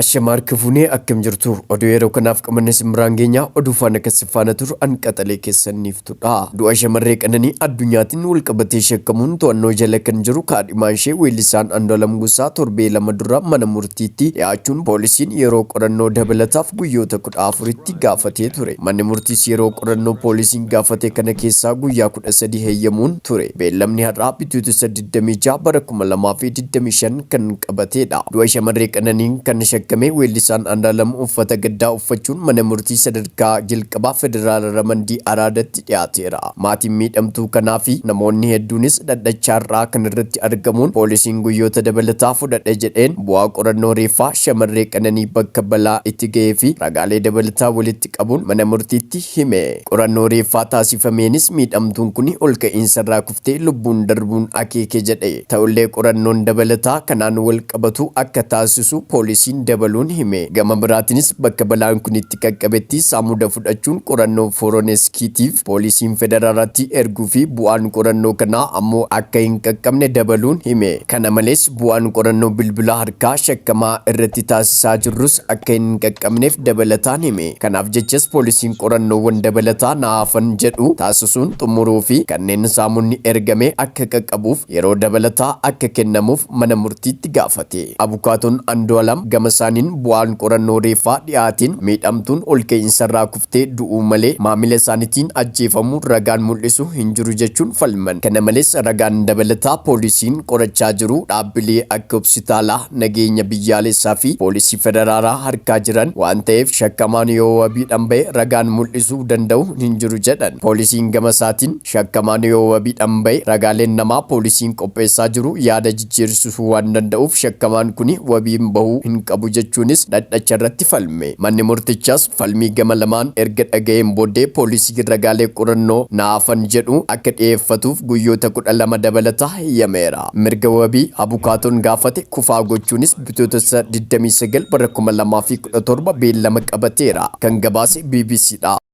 Ashamaa harka fuunee akkam jirtu oduu yeroo kanaaf qabanne sin biraan geenya oduu faana kan sin faana turu an qaxalee keessan niiftudha du'a shamarree qananii addunyaatiin walqabatee shakkamuun to'annoo jala kan jiru kaadhimaan ishee weellisaan Andualam Gosaa torbee lama dura mana murtiitti dhiyaachuun poolisiin yeroo qorannoo dabalataaf guyyoota 14tti gaafatee ture manni murtiis yeroo qorannoo poolisiin gaafate kana keessaa guyyaa 13 heyyamuun ture beellamni har'aa bitootessa 26 bara 2025 kan qabateedha. Du'a shamarree Qananiin kan shakkame weellisaan Andaalam uffata gaddaa uffachuun mana murtii sadarkaa jalqabaa federaala Ramandii Araadatti dhiyaateera. Maatiin miidhamtuu kanaa fi namoonni hedduunis dhaddacha har'aa kana irratti argamuun poolisiin guyyoota dabalataa fudhadha jedheen bu'aa qorannoo reeffaa shamarree Qananii bakka balaa itti gahee fi ragaalee dabalataa walitti qabuun mana murtiitti hime. Qorannoo reeffaa taasifameenis miidhamtuun kuni olka'iinsarraa tti lubbuun darbuun akeeke jedhe. Ta'ullee qorannoon dabalataa kanaan walqabatu akka taasisu poolisiin dabaluun hime. Gama biraatinis bakka balaan kun itti qaqqabetti saamuda fudhachuun qorannoo Foroneskiitiif poolisiin federaaraatti erguu fi bu'aan qorannoo kanaa ammoo akka hin qaqqabne dabaluun hime. Kana malees bu'aan qorannoo bilbila harkaa shakkamaa irratti taasisaa jirrus akka hin qaqqabneef dabalataan hime. Kanaaf jechas poolisiin qorannoowwan dabalataa na hafan jedhu taasisuun xumuruu fi kanneen saamonni ergame akka qaqqabuuf yeroo dabalataa akka kennamuuf mana murtiitti gaafate. Abukaatoon Andu'alam gamasaaniin bu'aan qorannoo reeffaa dhiyaateen miidhamtuun olka'iinsarraa kuftee du'uu malee maamila isaanitiin ajjeefamuu ragaan mul'isu hin jiru jechuun falman. Kana malees ragaan dabalataa poolisiin qorachaa jiru dhaabbilee akka hopsitaala, nageenya biyyaalessaa fi poolisii federaalaa harkaa jiran waan ta'eef shakkamaan yoo wabiidhaan ba'e ragaan mul'isuu danda'u hin jiru jedhan. Poolisiin gama isaatiin shakkamaan yoo wabiidhaan ba'e ragaaleen namaa poolisiin qopheessaa jiru yaada jijjiirsisuu waan danda'uuf shakkamaan kuni wabiin bahuu hin qabu jechuunis dhadhacha irratti falme. Manni murtichaas falmii gama lamaan erga dhaga'een booddee poolisiin ragaalee qorannoo na hafan jedhu akka dhiyeeffatuuf guyyoota 12 dabalataa heyyameera. Mirga wabii abukaatoon gaafate kufaa gochuunis Bitootessa 29 bara 2017 beellama qabateera. Kan gabaase bbc dha.